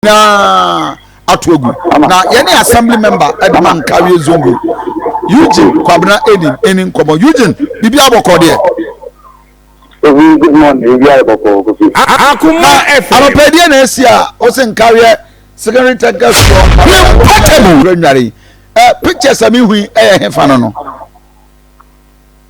nyinaa ato agu na yɛne assembly member adwuma nkareɛ zongo eugene kwabena enim ɛni nkɔmmɔ eugene biribi abɔkɔ deɛ akoma ɛfɛ anɔpɛdeɛ na asi a ɔse nkareɛ secondary technical school mpatable nware pictures a mehui ɛyɛ hefa no no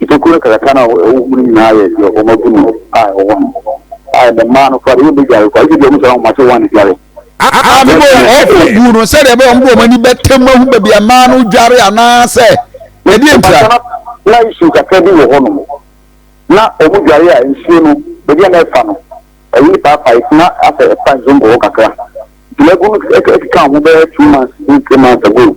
Nnipakuo no kasa no a ɛwɔ hɔ no nyinaa yɛ deɛ wɔn abu no a ɛwɔ hɔ no, a ɛnnɛ mmaa no koraa deɛ wɔbɛdware koraa, gye deɛ wɔn sɛ ahoma sɛ wɔn adware. Aa, mebɔ wɔn ɔko guu no sɛdeɛ ɛbɛyɛ wɔn de wɔn ani bɛtɛm ahu baabi a mmaa no dware anaasɛ ɛdeɛ ntira. Na nsuo kakra bi wɔ hɔnom, na wɔn dware a nsuo no, baabi a na ɛfa no, ɛyi ne paapae, na asɛ ɛfa nsuo nkɔ hɔ kakra. Nti magu no ɛkeka ho bɛyɛ two months, three months ago.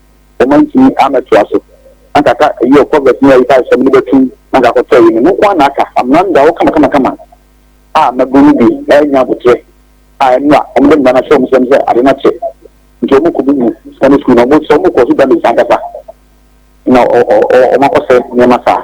wɔantumi ammɛtoa so. Na anka aka eyi wɔ Proverbs mu a Yesaia hyɛɛ me no bɛtum, na anka akɔtɔ eyi no. Ɛno nko ara na aka. Amena no da hɔ kamakamakama a mmabun no bi renya aboterɛ a ɛno a wɔde mmara no ahyɛ wɔn nsam sɛ ade no akyɛ nti wɔrekɔbubu Sunday sukuu no. Wɔn sɛ wɔkɔ so damage ankasa na wɔakɔsɛe nneɛma saa.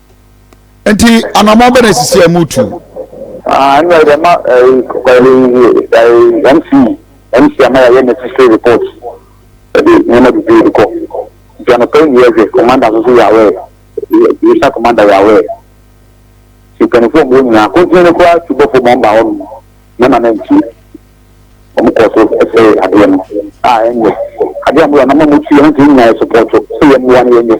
nti anamɔ bɛ na esisi a ɛmu tu. ɛnna yɛ ma ɛyi mc mc ama yɛ yɛ necessary report ɛde nneɛma bebree de kɔ nti anɔpɛ yi yɛ hwɛ commander nso so yɛ awɛ yɛsa commander yɛ awɛ si mpanimfoɔ mu nyinaa kɔntini no koraa tu bɔfo ma ɔmba hɔ nom nneɛma no nti wɔn kɔ so ɛsɛ adeɛ no a ɛnyɛ adeɛ a mo yɛ anamɔ mo tu yɛ no nti nyinaa yɛ sopɔtɔ sɛ yɛ mmoa no yɛ nyɛ.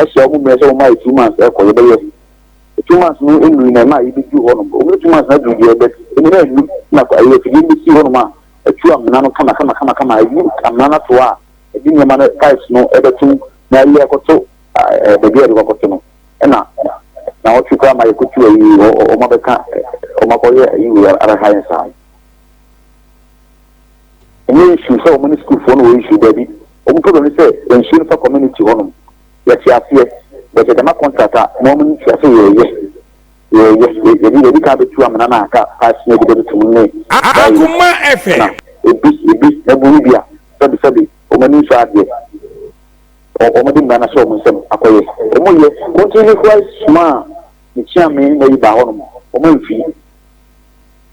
Ɛhyɛ wɔn mmrɛ sɛ wɔn ayɛ two months ɛkɔ yɛbɛyɛ two months no nnuru na ɛma yɛbɛduru hɔ nom wɔn two months no aduru deɛ but ɛmu no annu na ɛyɛ afidie no bɛsi hɔ nom a ɛtu amena no kama kama kama kama ɛyi amena no to a ɛde nneɛma no pipes no ɛbɛtom na ɛyɛ ɛkɔto baabi a ɛde kɔkɔto no ɛna na wɔtwe koraa ma yɛkɔtu ayi wɔn abɛka wɔn akɔyɛ ayi wei ara ha yɛn saa ɛnyɛ issue sɛ wɔn ne sukuufoɔ no wɔ issue daabi wɔn problem ne sɛ nsuo no fa community hɔ nom yɛte aseɛ but yɛde ma contract a mo wɔn nti ase yɛyɛ yɛyɛ yɛde yɛde ka abɛtu amena na ka paasi yɛde bɛde tum ne Akoma FM. ebi ebi na bu bi a sɛbi sɛbi wɔn ani nso adeɛ wɔn de mmira na hyɛ wɔn nsam akɔyɛ wɔn yɛ wɔn ti ne kura suma a ne kyia me na yi ba hɔ nom wɔn mfi.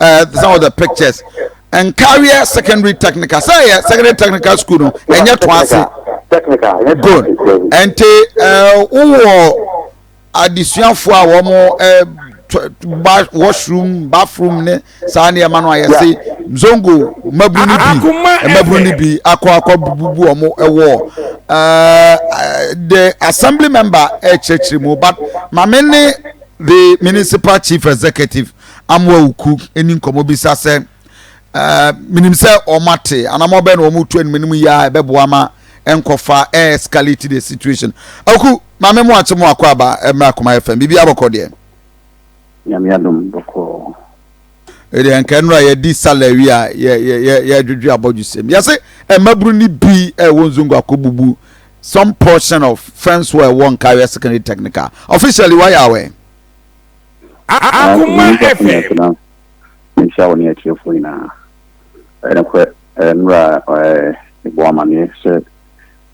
uh, some of the pictures nkareɛ secondary technical sɛ yɛ secondary technical school no ɛnyɛ to ase good ɛnti uh, wowɔ adesuafoɔ a wɔn eh, ba washroom bathroom ne saa nneɛma no a yɛse zongo mmaburu no bi mmaburu no bi akɔ akɔ bubu wɔn wɔ eh, the assembly member ɛkyerɛkyerɛ mu but maame ne the municipal chief executive. amoa wo ku ɛni nkɔmmɔ bisa sɛ uh, menim sɛ ɔma te anam ɔbɛ na ɔmo tu anim no mu yɛ a ɛbɛboa ma ɛnkɔfa ɛ escalate the situation aku maame mo akye mo akɔ aba ɛmmerɛ akoma yɛ fam biribi abɔkɔ deɛ nyame adom bɔkɔɔ ɛdeɛ nka nnora yɛdi salawi a yɛdwedwe abɔdwo sɛm yɛse mmabunu no bi ɛwɔ nzongo akɔbubu some portion of fence wɔ ɛwɔ nkaeɛ secondary technical officially wayɛ awɛ Akoma FM. Nhyira wo ne atiefoɔ nyinaa. Ɛyɛ nokorɛ mmerɛ a mebɔɔ amaneɛ sɛ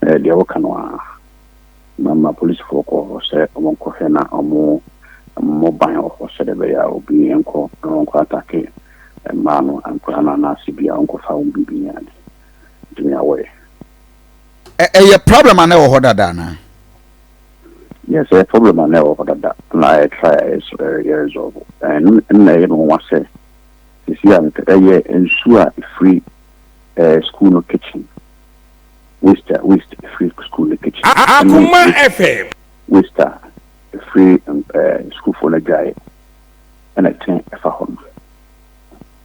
deɛ woka no a mama polisifoɔ kɔɔ hɔ sɛ wɔnkɔhwɛ na wɔmmɔ ban wɔ hɔ sɛdeɛ ɛbɛyɛ a obi nkɔ na wɔnkɔ atake mmaa no nkwadaa no anaasɛ bi a wɔnkɔfa wɔn biribi ne ade nti nea wɔyɛ. Ɛyɛ problem a na ɛwɔ hɔ dada anaa? Yes, ɛyɛ problem a na ɛwɔ hɔ dada na ayɛ try a yɛ resolve. Ɛno na ɛyɛ me nwa sɛ sisi a ɛyɛ nsuo a ɛfiri ɛɛ school no kitchen waste a waste ɛfiri school no kitchen. Akuma FM. Waste a ɛfiri ɛɛ sukuufoɔ no adwaeɛ ɛna ɛte ɛfa hɔ no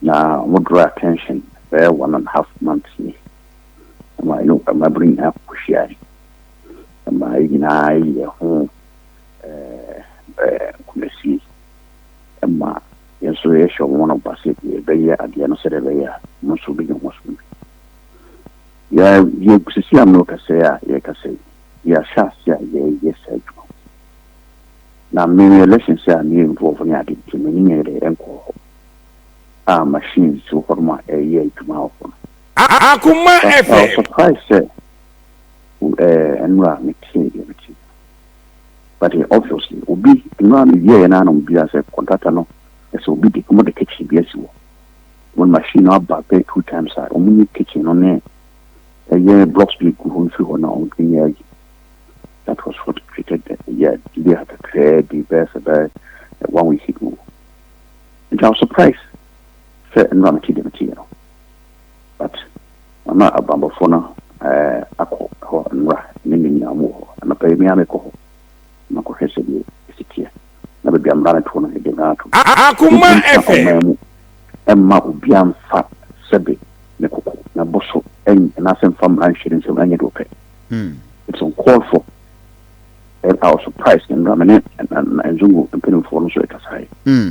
na wɔn draw attention bɛyɛ one and half months ni ɛma ɛno ɛma bere nyinaa kɔhyiae. ma yɛn nyinaa ayi yɛn ho nkuranhyɛ ma yɛn nso yɛhyɛ wɔn no ba sɛ yɛbɛyɛ adeɛ no sɛdeɛ ɛbɛyɛ a wɔn nso bɛnya wɔn som bi. Yɛsisi a no kɛsɛ a yɛkɛsɛ yɛahyɛ ase a yɛyɛ saa adwuma. Na mmemme election sɛ a mmemme nkurɔfoɔ ne ade nti mmemme nyɛ dɛ nkɔ hɔ a machines wɔ hɔ nom a ɛyɛ adwuma wɔ hɔ no. Akuma FM. Surprise sɛ. eh, ɛnora metee deɛ mete but eh, obviously obi ɛnora mewiɛɛ no ana obi asɛ contractor no ɛsɛ obi de ɔmo de kitchen bi asi hɔ wɔn machine no aba bɛyɛ two times a ɔmo nyi kitchen no ne ɛyɛ blocks bi gu hɔ mfiri hɔ na ɔmo de nyɛ ayi that was what created the yeah delay kakraa bi bɛyɛ sɛ bɛyɛ eh, one week ago nti I was surprised sɛ ɛnora mete deɛ mete yɛ no but na abanbɔfoɔ no akɔ hɔ nnora ne nnɛ nyinaa wɔn wɔ hɔ anɔpa yi me ara mekɔ hɔ makɔhwɛ sɛdeɛ ɛsi teɛ na baabi a mmara no toɔ no ɛde mmara ato Akoma FM mu ɛmma obiara mfa sɛbe ne koko na bo so anaasɛ mfa mmara nhyɛ ne nsam ɛnyɛ deɛ ɔpɛ hmm. it's uncalled for I was surprised nnora me ne nzongo mpanimfoɔ no so ɛkasaeɛ hmm.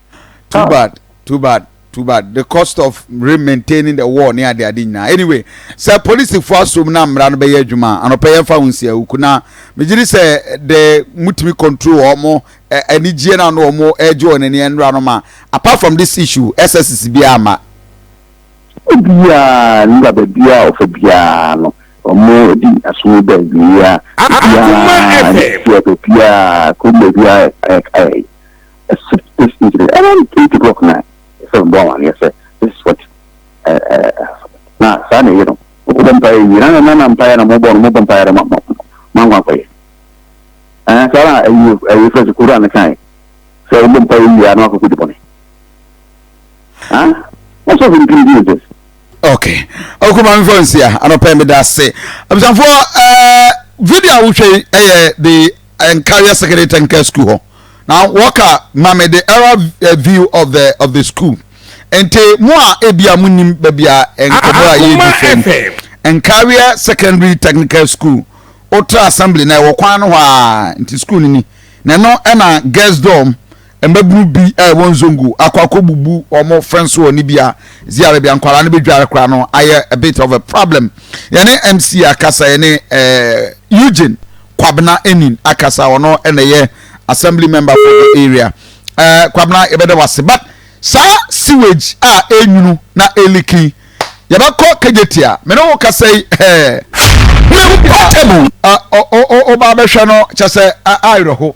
too bad too bad too bad the cost of maintaining the war ne ade ade nyinaa anyway sɛ polisifo asom na mmara no bɛyɛ adwuma anɔpɛ yɛn fa ho nsi awuku na megye di sɛ de mutumi control wɔn anigyeɛ na no wɔn ɛgye wɔn ani ɛnura no ma apart from this issue ɛsɛ sisi biara ma. obiara ne ba baabiara ɔfa biara no wɔn di asom bɛn biara biara biara kɔn baabiara ɛɛ. Except this incident, I don't think people of nine is a bomb and yes, this is what na saa na ɛyɛ no wobɔ mpaeɛ wie na na na mpaeɛ na mobɔ no mobɔ mpaeɛ no mankwa nkɔyɛ saa na ɛyɛ fɛ sɛ kura no kae sɛ wobɔ mpaeɛ wie a na wakɔkɔdi bɔne Huh? What's up with the Jesus? Okay. Okay, my friends here. I don't pay me that say. I'm saying for uh video which is uh, the Enkaria Secondary Technical School. Now, Walker, Mame, the era uh, view of the of the school. Ente mo a ebia mo nim baabi a nkɔmɔ a yɛ di fam. Enkaria Secondary Technical School. Otra assembly na ɛwɔ kwan no hɔ a nti school ni ni. Na ɛno ɛna girls dorm. Mbabun bi a wɔwɔ Nzongo akɔ akɔbubu wɔn fence wall no bi a dzi ara bi a nkwadaa no bedware koraa no ayɛ a bit of a problem. Yɛne MC akasa, yɛne eh, Eugene Kwabena Enin akasa, ɔno na ɛyɛ assembly member for the area. Eh, Kwabena yɛbɛda wase but saa sewage a ɛnwunu na ɛliki yɛbɛkɔ kagyetia me ne wo kasa yi eh, portable. Uh, o, o, o, o, ba bɛhwɛ no kyɛ sɛ a- awerɛho